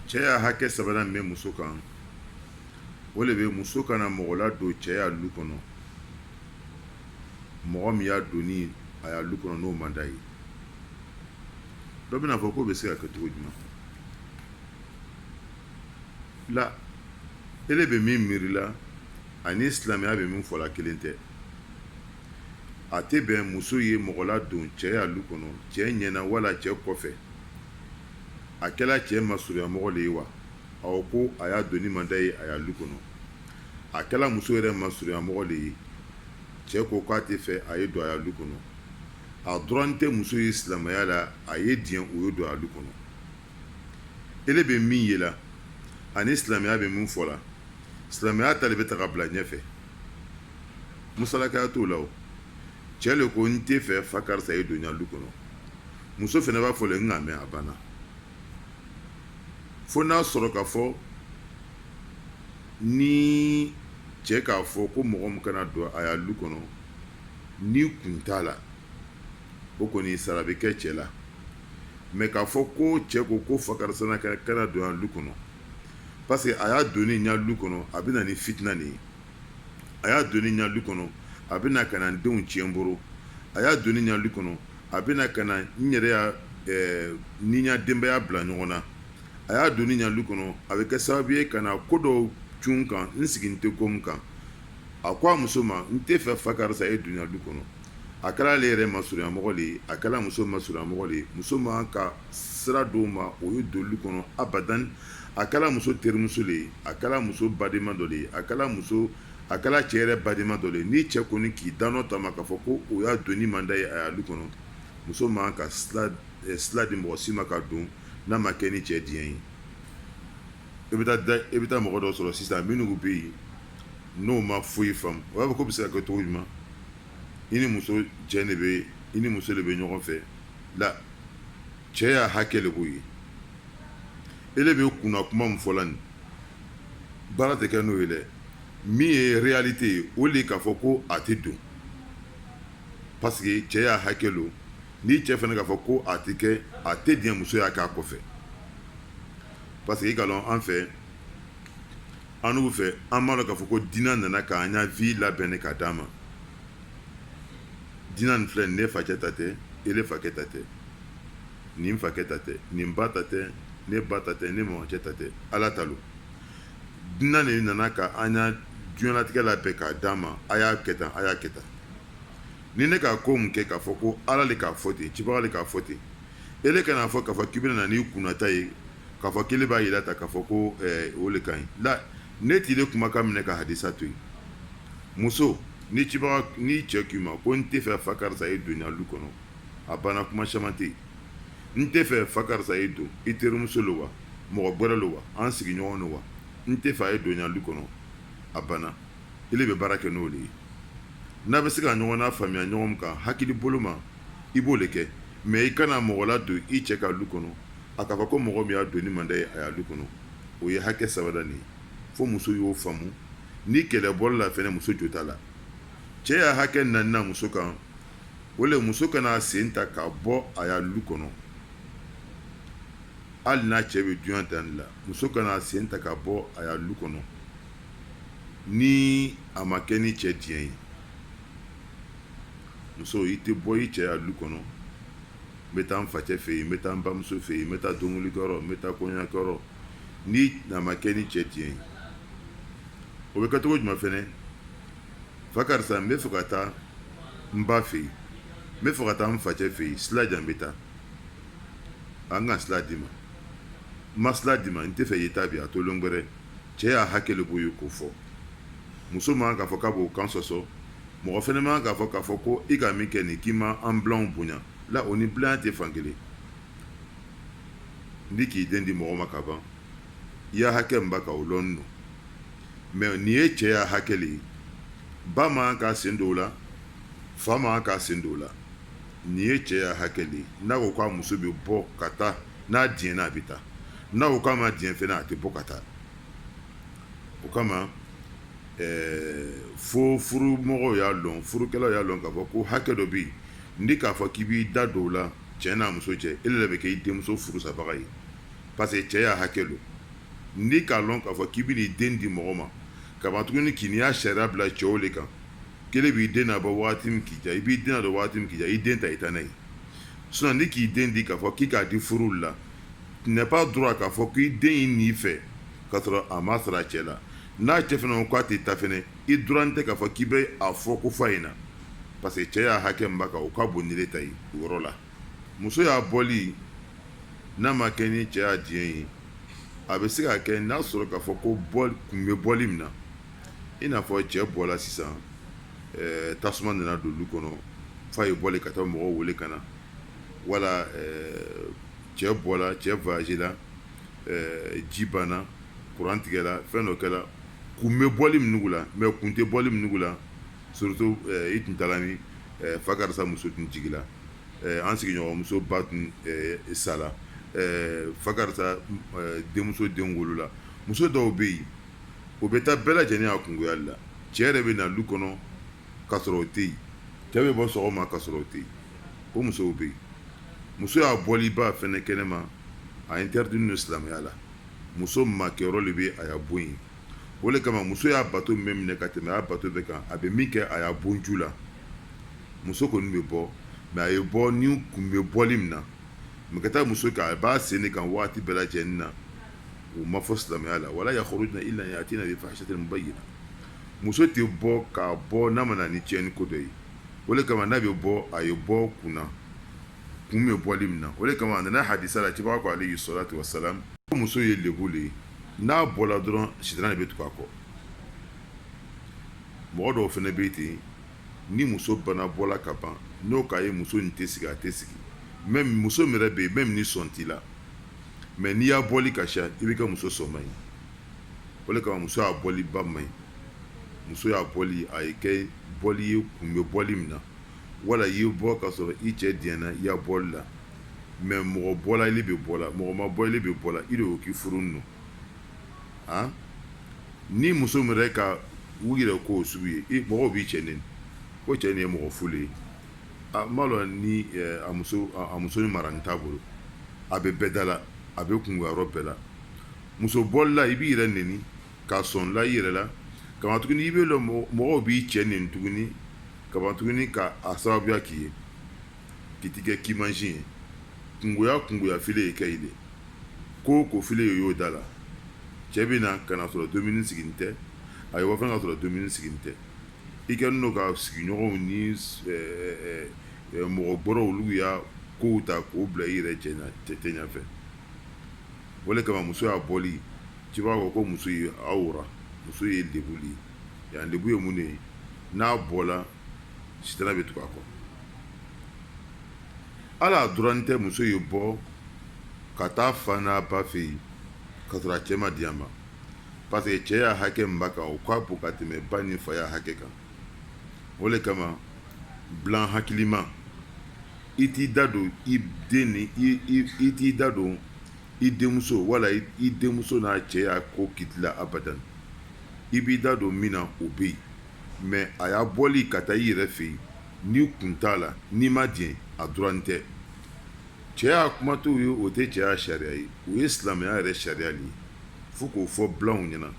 cɛ ya hakɛ sabanan min bɛ muso kan o de bɛ muso kana mɔgɔ ladon cɛ ya lu kɔnɔ mɔgɔ min ya donni a ya lu kɔnɔ n'o man d'a ye dɔ bɛna fɔ k'o bɛ se ka kɛ cogo jumɛn la ele bɛ min miiri la ani silamɛya bɛ min fɔla kelen tɛ a tɛ bɛn muso ye mɔgɔ ladon cɛ ya lu kɔnɔ cɛ ɲɛna wala cɛ kɔfɛ a kɛra cɛ masurunyamɔgɔ de ye wa a ko a ya donni man d'a ye a ya lu kɔnɔ a kɛra muso yɛrɛ masurunyamɔgɔ de ye cɛ ko k'a tɛ fɛ a ye don a ya lu kɔnɔ a daganin tɛ muso ye silamɛya la a ye diɲɛ o ye don a ya lu kɔnɔ ele bɛ min ye la ani silamɛya bɛ min fɔ la silamɛya ta de bɛ ta ka bila ɲɛfɛ musalakaya t'o la cɛ de ko n tɛ fɛ fa karisa ye don n ya lu kɔnɔ muso fana b'a fɔ le n k'a mɛn a banna fo n'a sɔrɔ ka fɔ ni cɛ k'a fɔ ko mɔgɔ min kana don a ya lu kɔnɔ ni kun t'a la o kɔni sara bɛ kɛ cɛ la mais k'a fɔ ko cɛ ko ko fa karisa kana don n ya lu kɔnɔ parce que a ya donni n ya lu kɔnɔ a bɛ na ni fitina nin ye a ya donni n ya lu kɔnɔ a bɛ na ka na denw tiɲɛ n bolo a ya donni n ya lu kɔnɔ a bɛ na ka na n yɛrɛ ya ni n ya denbaya bila ɲɔgɔn na a ya donni n ya lu kɔnɔ a bɛ kɛ sababu ye ka na ko dɔw cun n kan n sigilen tɛ ko min kan a ko a muso ma n tɛ fɛ fa karisa ye don n ya lu kɔnɔ a kɛra ale yɛrɛ masurunyamɔgɔ de ye a kɛra muso masurunyamɔgɔ de ye muso man ka sira d'o ma o ye don lu kɔnɔ abad a kɛra muso terimuso de ye a kɛra muso badenma dɔ de ye a kɛra cɛ yɛrɛ badenma dɔ de ye ni cɛ kɔni k'i dan ta k'a fɔ ko o ya donni man d'a ye a ya lu kɔnɔ muso man ka sira di mɔgɔ si ma ka don n'a ma kɛ ni cɛ diɲɛ ye i bɛ taa mɔgɔ dɔ sɔrɔ sisan minnu bɛ yen n'o ma foyi faamu o b'a fɔ k'o bɛ se ka kɛ cogo jumɛn i ni muso cɛ de bɛ i ni muso de bɛ ɲɔgɔn fɛ la cɛ ya hakɛ de b'o ye e de bɛ kunna kuma min fɔla nin baara tɛ kɛ n'o ye dɛ min ye réalité ye o de k'a fɔ ko a tɛ don parce que cɛ ya hakɛ don ni cɛ fana k'a fɔ ko a tɛ kɛ a tɛ diɲɛ muso y'a k'a kɔfɛ parce que i ka dɔn an fɛ annu fɛ an b'a dɔn k'a fɔ ko diinɛ nana k'an ya vie labɛn ne ka d'an ma diinɛ nin filɛ ne facɛ ta tɛ ele fakɛ ta tɛ nin fakɛ ta tɛ nin ba ta tɛ ne ba ta tɛ ne mɔgɔcɛ ta tɛ ala ta lo diinɛ de nana ka an ya diɲɛlatigɛ labɛn k'a d'a ma a y'a kɛ tan a y'a kɛ tan ni ne k'a ko mun kɛ k'a fɔ ko ala de k'a fɔ ten cibaga de k'a fɔ ten ele kan'a fɔ k'a fɔ k'i bɛna na n'i kunnata ye k'a fɔ k'ele b'a jira tan k'a fɔ ko eh, o le ka ɲi la ne t'ile kumakan minɛ ka hadisa to yen muso N'i cɛ k'i ma ko n tɛ fɛ fa karisa ye don n ya lu kɔnɔ a banna kuma caman tɛ yen n tɛ fɛ fa karisa ye don i terimuso lo wa mɔgɔ gwɛrɛ lo wa an sigiɲɔgɔn lo wa n tɛ fɛ a ye don n ya lu kɔnɔ a banna ile bɛ baara kɛ n'o le ye n'a bɛ se ka ɲɔgɔn nafaamuya ɲɔgɔn kan hakili bolo ma i b'o le kɛ mɛ i kana mɔgɔ ladon i cɛ ka lu kɔnɔ a k'a fɔ ko mɔgɔ min ya donni man d'a ye a ya lu kɔnɔ o ye hakɛ sabanan ye fo muso y'o faamu ni kɛlɛ bɔra la fɛnɛ muso jo t'a la cɛ ya hakɛ naaninan muso kan o le muso kan'a sen ta ka bɔ a ya lu kɔnɔ hali n'a cɛ bɛ dugu jan taa la muso kan'a sen ta ka bɔ a ya lu kɔnɔ ni a ma kɛ ni cɛ diɲɛ ye muso i tɛ bɔ i cɛ ya lu kɔnɔ n bɛ taa n facɛ fɛ yen n bɛ taa n bamuso fɛ yen n bɛ taa denkunlikɛyɔrɔ n bɛ taa kɔɲɔkɛyɔrɔ ni a ma kɛ ni cɛ diɲɛ ye o bɛ kɛ cogo jumɛn fɛnɛ fa karisa n bɛ fɛ ka taa n ba fɛ yen n bɛ fɛ ka taa n facɛ fɛ yen sila di yan n bɛ taa n ka sila d'i ma n ma sila d'i ma n tɛ fɛ i ye taa bi a to lon gwɛrɛ cɛ ya hakɛ le b'o ye k'o fɔ muso man k'a fɔ k'a b'o kan sɔsɔ mɔgɔ fɛnɛ man k'a fɔ k'a fɔ ko i ka min kɛ nin k'i ma an bilanw bonya la o ni bilanya tɛ fan kelen n'i k'i den di mɔgɔ ma ka ban i ya hakɛ min b'a kan o lɔn don mɛ nin ye cɛ ya hakɛ le ye ba man k'a sen don o la fa man k'a sen don o la nin ye cɛ ya hakɛ le ye n'a ko k'a muso bɛ bɔ ka taa n'a diɲɛna a bɛ taa n'a ko k'a ma diɲɛ fɛnɛ a tɛ bɔ ka taa o kama fo furumɔgɔw y'a lɔn furukɛlaw y'a lɔn k'a fɔ ko hakɛ dɔ bɛ yen n'i k'a fɔ k'i b'i da don o la cɛ n'a muso cɛ ele le bɛ kɛ i denmuso furusabaga ye parce que cɛ ya hakɛ lo n'i k'a lɔn k'a fɔ k'i bɛn'i den di mɔgɔ ma ka ban tuguni k'i n'i ya sariya bila cɛw le kan k'ele b'i den nabɔ waati min k'i diya i b'i den nadon waati min k'i diya i den ta i ta n'a ye sinon n'i k'i den di k'a fɔ k'i k'a di furu la tu n'as pas droit k'a fɔ k'i den ye n'i fɛ k'a sɔrɔ a ma sara a cɛ la n'a cɛ fɛnɛ ko k'a tɛ taa fɛnɛ i droit tɛ k'a fɔ k'i bɛ a fɔ ko f'a ye na parce que cɛ y'a hakɛ min b'a kan o ka bon ni ne ta ye o yɔrɔ la muso y'a bɔli n'a ma kɛ ni cɛ y'a diɲɛ ye a bɛ se ka kɛ n'a sɔrɔ k'a fɔ ko kun bɛ bɔli min na i n'a fɔ cɛ bɔla sisan eh, tasuma nana don lu kɔnɔ f'a ye boli ka taa mɔgɔw wele ka na wala eh, cɛ bɔla cɛ voyage la eh, ji banna kuran tigɛla fɛn dɔ kɛla kun bɛ bɔli min nugu la mais kun tɛ bɔli min nugu la Surtout i tun taala min fa karisa muso tun jigila an sigiɲɔgɔnmuso ba tun sala fa karisa denmuso den wolola muso dɔw bɛ yen o bɛ taa bɛɛ lajɛlen a kungoyali la cɛ yɛrɛ bɛ na lu kɔnɔ ka sɔrɔ o tɛ yen cɛ bɛ bɔ sɔgɔma ka sɔrɔ o tɛ yen o musow bɛ yen muso y'a bɔliba fɛnɛ kɛnɛma a interditnin lo silamɛya la muso makɛyɔrɔ de bɛ a y'a bon ye o de kama muso y'a bato min minɛ ka tɛmɛ y'a bato bɛɛ kan a bɛ min kɛ a y'a bonju la muso kɔni bɛ bɔ mais a ye bɔ ni kun bɛ bɔli min na mais ka taa muso kɛ a b'a sen de kan waati bɛɛ lajɛlen na o ma fɔ silamɛya la wala yakhrujna illa yatina bi fahishatin mubayyina muso tɛ bɔ ka bɔ n'a ma na ni tiɲɛni ko dɔ ye o de kama n'a bɛ bɔ a ye bɔ kun na kun bɛ bɔli min na o de kama a nana hadisa la kibaa ko alayhi salatu wasalam ko muso ye lebu de ye n'a bɔra dɔrɔn sitan de bɛ tugu a kɔ mɔgɔ dɔw fana bɛ ten ni muso bana bɔla ka ban n'o k'a ye muso in tɛ sigi a tɛ sigi même muso min yɛrɛ bɛ yen même ni sɔn t'i la mais n'i y'a bɔli ka siya i bɛ kɛ muso sɔnma ye o de kama muso y'a bɔliba man ɲi muso y'a bɔli a ye kɛ bɔli ye kun bɛ bɔli min na wala i ye bɔ ka sɔrɔ i cɛ diɲɛna i ya bɔli la mais mɔgɔ bɔla ile bɛ bɔ la mɔgɔ ma bɔ ile bɛ bɔ la i de y'o k'i furu don a ni muso min yɛrɛ ka u yɛrɛ k'o sugu ye mɔgɔw b'i cɛ neni ko cɛ nin ye mɔgɔ fu le ye a ma dɔn ni a muso a muso ni mara nin t'a bolo a bɛ bɛɛ da la a bɛ kungoyɔrɔ bɛɛ la muso bɔlila i b'i yɛrɛ n ka sɔn la i yɛrɛ la kamatuguni i bɛ lɔ mɔgɔw b'i cɛ neni tuguni kamatugun ka a sababuya k'i ye ki tigɛ k'i man ɲi ye kungoya kungoya fili ye ka i de ko ko fili ye y'o da la cɛ bɛ na ka na sɔrɔ dumuni sigilen tɛ a ye wa fana ka sɔrɔ dumuni sigilen tɛ i kɛnin don ka sigiɲɔgɔnw ni mɔgɔ gbɛrɛw olu y'a kow ta k'o bila i yɛrɛ cɛ ta ɲɛfɛ o de kama muso ya bɔli cibaga ko ko muso ye awra muso ye lebu de ye yan lebu ye mun de ye n'a bɔla sitana bɛ tugu a kɔ ala a daganin tɛ muso ye bɔ ka taa fa n'a ba fɛ yen ka sɔrɔ a cɛ ma di a ma parce que cɛ ya hakɛ min b'a kan o ka bon ka tɛmɛ ba ni fa ya hakɛ kan o de kama bilan hakilima i t'i da don i den ni i t'i da don i denmuso wala i denmuso n'a cɛ ya ko kiti la abada i b'i da don min na o bɛ yen mais a ya bɔli ka taa i yɛrɛ fɛ yen n'i kun t'a la n'i ma diɲɛ a daganin tɛ cɛ ya kuma t'o ye o tɛ cɛ ya sariya ye o ye silamɛya yɛrɛ sariya de ye fo k'o fɔ bilanw ɲɛna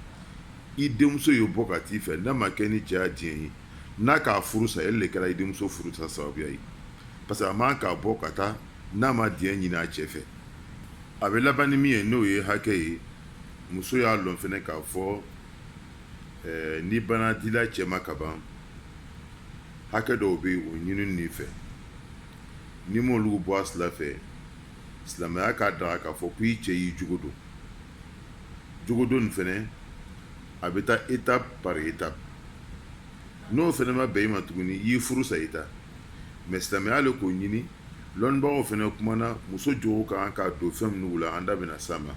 i denmuso ye bɔ ka t'i fɛ n'a ma kɛ ni cɛ ya diɲɛ ye n'a k'a furu sa e de kɛra i denmuso furu sa sababuya ye parce que a man ka bɔ ka taa n'a ma diɲɛ ɲini a cɛ fɛ a bɛ laban ni min ye n'o ye hakɛ ye muso y'a dɔn fana k'a fɔ eh, n'i banna dila cɛ ma ka ban hakɛ dɔw bɛ o ɲininin i fɛ n'i m'olu bɔ a sira fɛ silamɛya k'a daga k'a fɔ ko i cɛ y'i jogo don jogo don nin fana a bɛ taa étape par étape n'o fana ma bɛn i ma tuguni i y'i furu sa i ta mais silamɛya de k'o ɲini dɔnnibagaw fana kumana muso jogo ka kan ka don fɛn minnu la an da bɛna s'a ma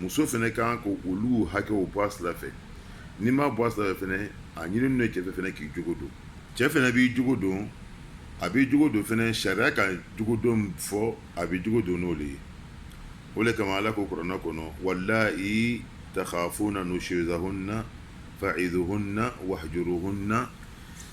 muso fana ka kan ka olu hakɛw bɔ a sira fɛ n'i m'a bɔ a sira fɛ fana a ɲininin cɛ fɛ fana k'i jogo don cɛ fana b'i jogo don a b'i jogo don fana sariya ka jogo don fɔ a b'i jogo don n'o de ye o de kama ala ko kuranɛ kɔnɔ wallati takhafuna nushuzahunna fa'izuhunna wahjuruhunna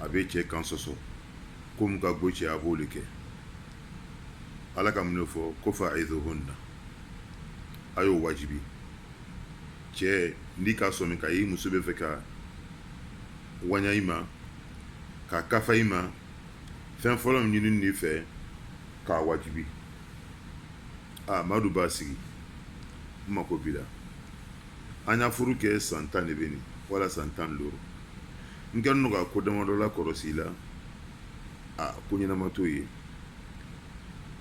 a bɛ cɛ kan sɔsɔ ko min ka go cɛ a b'o de kɛ ala ka mun de fɔ ko fa'izuhunna a y'o wajibi cɛ n'i ka sɔmi k'i muso bɛ fɛ ka waɲa i ma ka kafa i ma fɛn fɔlɔ min ɲininin i fɛ k'a wajibi aa madu b'a sigi n mako b'i la an ya furu kɛ san tan de bɛ wala san tan ni duuru n ka n ka ko damadɔ la kɔlɔsi la a ko ɲɛnama t'o ye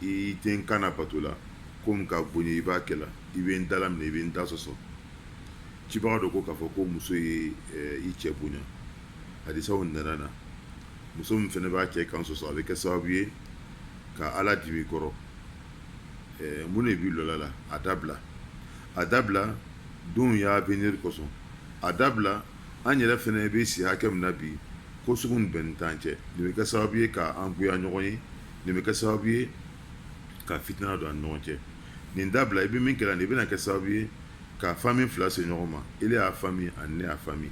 i tɛ n kan bato la ko min ka go n ye i b'a kɛla i bɛ n dala minɛ i bɛ n da sɔsɔ cibaga don ko k'a fɔ ko muso ye eh, i cɛ bonya hadisaw nana na muso min fana b'a cɛ kan sɔsɔ a bɛ kɛ sababu ye ka ala dimi kɔrɔ eh, mun de b'i lɔla la a dabila a dabila denw y'avenir kosɔn a dabila an yɛrɛ fana bɛ si hakɛ min na bi ko sugu bɛnnin t'an cɛ nin bɛ kɛ sababu ye k'an goya ɲɔgɔn ye nin bɛ kɛ sababu ye ka fitina don an ɲɔgɔn cɛ nin dabila i bɛ min kɛra nin bɛna kɛ sababu ye ka famille fila se ɲɔgɔn ma e y'a famille ani ne y'a famille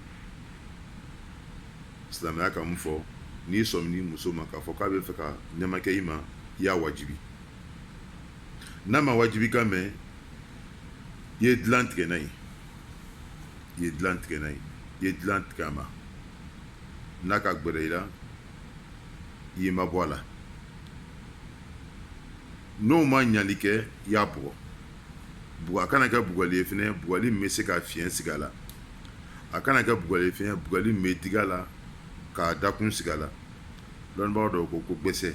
silamɛya ka mun fɔ n'i sɔmin'i muso ma k'a fɔ k'a bɛ fɛ ka nɛmakɛ i ma i y'a waju n'a ma waju kan mɛn i ye dilan tigɛ n'a ye i ye dilan tigɛ n'a ye i ye dilan tigɛ a ma n'a ka gbɛrɛ i la i y'i mabɔ a la n'o ma ɲali kɛ i y'a bugɔ a kana kɛ bugɔli ye fɛnɛ bugɔli min bɛ se ka fiɲɛ sigi a la a kana kɛ bugɔli ye fɛnɛ bugɔli min bɛ digi a la k'a dakun sigi a la dɔnnibaa dɔw ko gbɛsɛ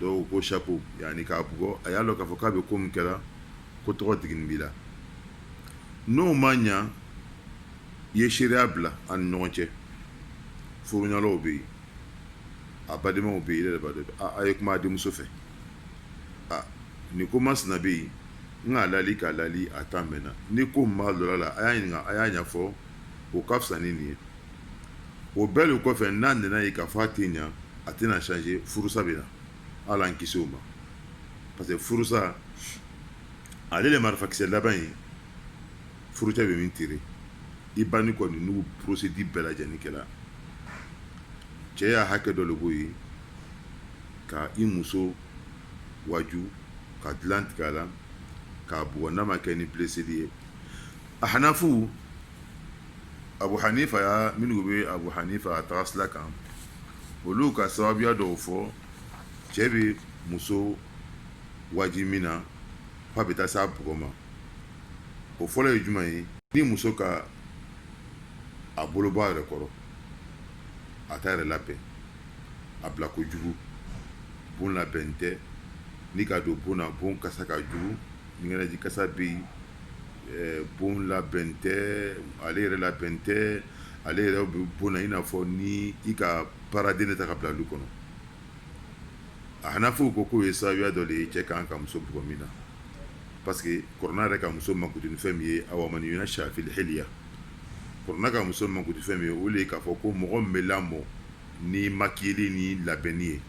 dɔw ko saku yanni k'a bugɔ a y'a dɔn k'a fɔ k'a bɛ ko min kɛra ko tɔgɔ digini b'i la n'o ma ɲɛ i ye seereya bila an ni ɲɔgɔn cɛ furuyalɔw bɛ yen a badenmaw bɛ yen yɛrɛ de a ye kuma denmuso fɛ aa nin ko masina bɛ yen n k'a laali k'a laali a taa mɛn na ni ko min b'a dɔ la a y'a ɲininka a y'a ɲɛfɔ o ka fisa ni nin ye o bɛɛ de kɔfɛ n'a nana ye k'a fɔ a tɛ ɲa a tɛna changer furusa bɛ na ala an kisi o ma parce que furusa ale de marifakisɛ laban ye furucɛ bɛ min tirer i ba ni kɔni n'u procédure bɛɛ lajɛlen kɛra cɛ y'a hakɛ dɔ de b'o ye ka i muso waju ka dilan tigɛ a la k'a bugɔ n'a ma kɛ ni blesseli ye A hanafu Abu Hanifa y'a minnu bɛ Abu Hanifa taga sira kan olu ka sababuya dɔw fɔ cɛ bɛ muso waju min na f'a bɛ taa s'a bugɔ ma o fɔlɔ ye jumɛn ye ni muso ka a bolo bɔ a yɛrɛ kɔrɔ a t'a yɛrɛ labɛn a bila ko jugu bon labɛn tɛ ni ka don bon na bon kasa ka jugu ɲɛnɛji kasa bɛ yen bon labɛn tɛ ale yɛrɛ labɛn tɛ ale yɛrɛ bɛ bon na i n'a fɔ ni i ka baaraden ta ka bila du kɔnɔ a hanafuw ko k'o ye sababuya dɔ de ye cɛ kan ka muso bugɔ min na parce que kurana yɛrɛ ka muso mankutu ni fɛn min ye awa man yunasha fil hilya kurana ka muso mankutu fɛn min ye o de ye k'a fɔ ko mɔgɔ min bɛ lamɔ ni makiyeli ni labɛnni ye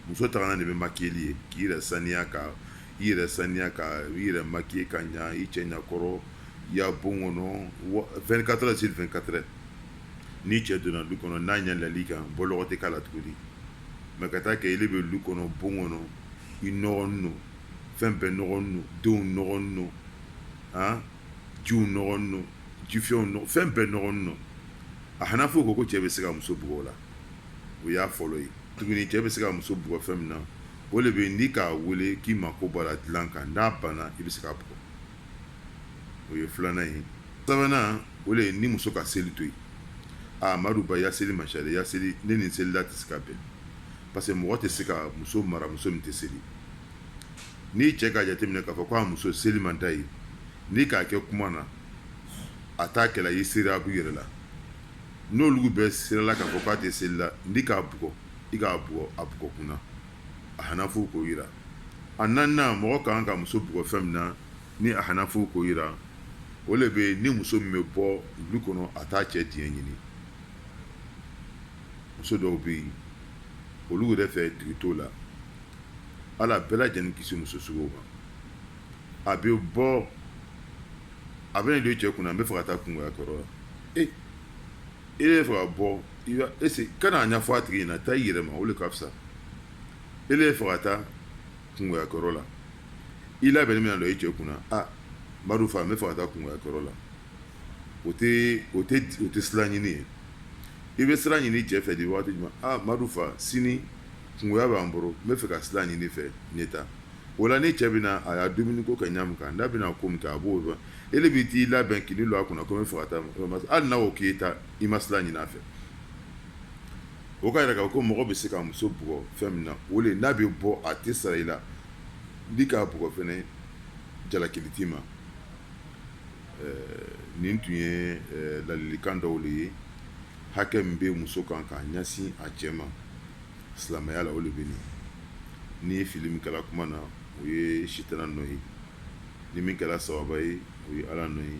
muso taara de bɛ makiyeli ye k'i yɛrɛ saniya kan i yɛrɛ saniya ka i yɛrɛ makiye ka ɲɛ i cɛ ɲɛkɔrɔ i y'a bon kɔnɔ vingt-quatre sur vingt-quatre ni cɛ donna du kɔnɔ n'a ɲɛ la i kan bɔlɔgɔ tɛ k'a la tuguni mɛ ka taa kɛ ele bɛ du kɔnɔ bon kɔnɔ i nɔgɔlen don fɛn bɛɛ nɔgɔlen don denw nɔgɔlen don a jiw nɔgɔlen don jifɛnw fɛn bɛɛ nɔgɔlen don a hanafu ko cɛ bɛ se ka muso bugɔ o la o y'a fɔlɔ ye tuguni cɛ bɛ se ka muso bugɔ fɛn min na o de bɛ n'i k'a wele k'i mako b'a la dilan kan n'a banna i bɛ se k'a bugɔ o ye filanan ye sabanan o de ye ni muso ka seli to yen aa amadu ba ya seli ma chérie ya seli ne ni selila tɛ se ka bɛn parce que mɔgɔ tɛ se ka muso mara muso min tɛ seli ni cɛ ka jateminɛ k'a fɔ ko a muso seli man d'a ye n'i k'a kɛ kuma na a t'a kɛla i sera a b'u yɛrɛ la n'olu bɛɛ sela k'a fɔ k'a tɛ seli la n'i k'a bugɔ i k'a bugɔ a bugɔkun na a hanafu k'o yira a naaninan mɔgɔ kan ka muso bugɔ fɛn min na ni a hanafu k'o yira o de bɛ ni muso min bɛ bɔ du kɔnɔ a t'a cɛ diɲɛ ɲini muso dɔw bɛ yen olu yɛrɛ fɛ tigi t'u la ala bɛɛ lajɛlen kisi muso sugu ma a bɛ bɔ a bɛ n'i don cɛ kunna n bɛ fɛ ka taa kɔɲɔya kɔrɔ la e bɛ fɛ ka bɔ e kan'a ɲɛfɔ a tigi ɲɛna taa i yɛrɛ ma o de ka fisa e bɛ fɛ ka taa kɔɲɔya kɔrɔ la i labɛnnen bɛ na don i cɛ kunna aa amadu fa n bɛ fɛ ka taa kɔɲɔya kɔrɔ la o tɛ o tɛ sira ɲini ye i bɛ sira ɲini cɛ fɛ de waati jumɛn aa amadu fa sini kɔɲɔya b'an bolo n bɛ fɛ ka sira ɲini i fɛ ne taa o la ni cɛ bɛ na a y'a dumuni ko kɛ ɲa min kan n'a bɛna ko min ta a b'o dɔn e bɛ t'i labɛn k'i don a kunna ko n bɛ fɛ ka taa hali n'o k'i taa i ma sira ɲini a fɛ o k'a yira k'a fɔ ko mɔgɔ bɛ se ka muso bugɔ fɛn min na o de n'a bɛ bɔ a tɛ sara i la n'i k'a bugɔ fɛnɛ jalakili t'i ma nin tun ye ladilikan dɔw de ye hakɛ min bɛ muso kan k'a ɲɛsin a cɛ ma silamɛya la o de bɛ nin ni fili min kɛra kuma na o ye sitana nɔ ye ni min kɛra sababa ye o ye ala nɔ ye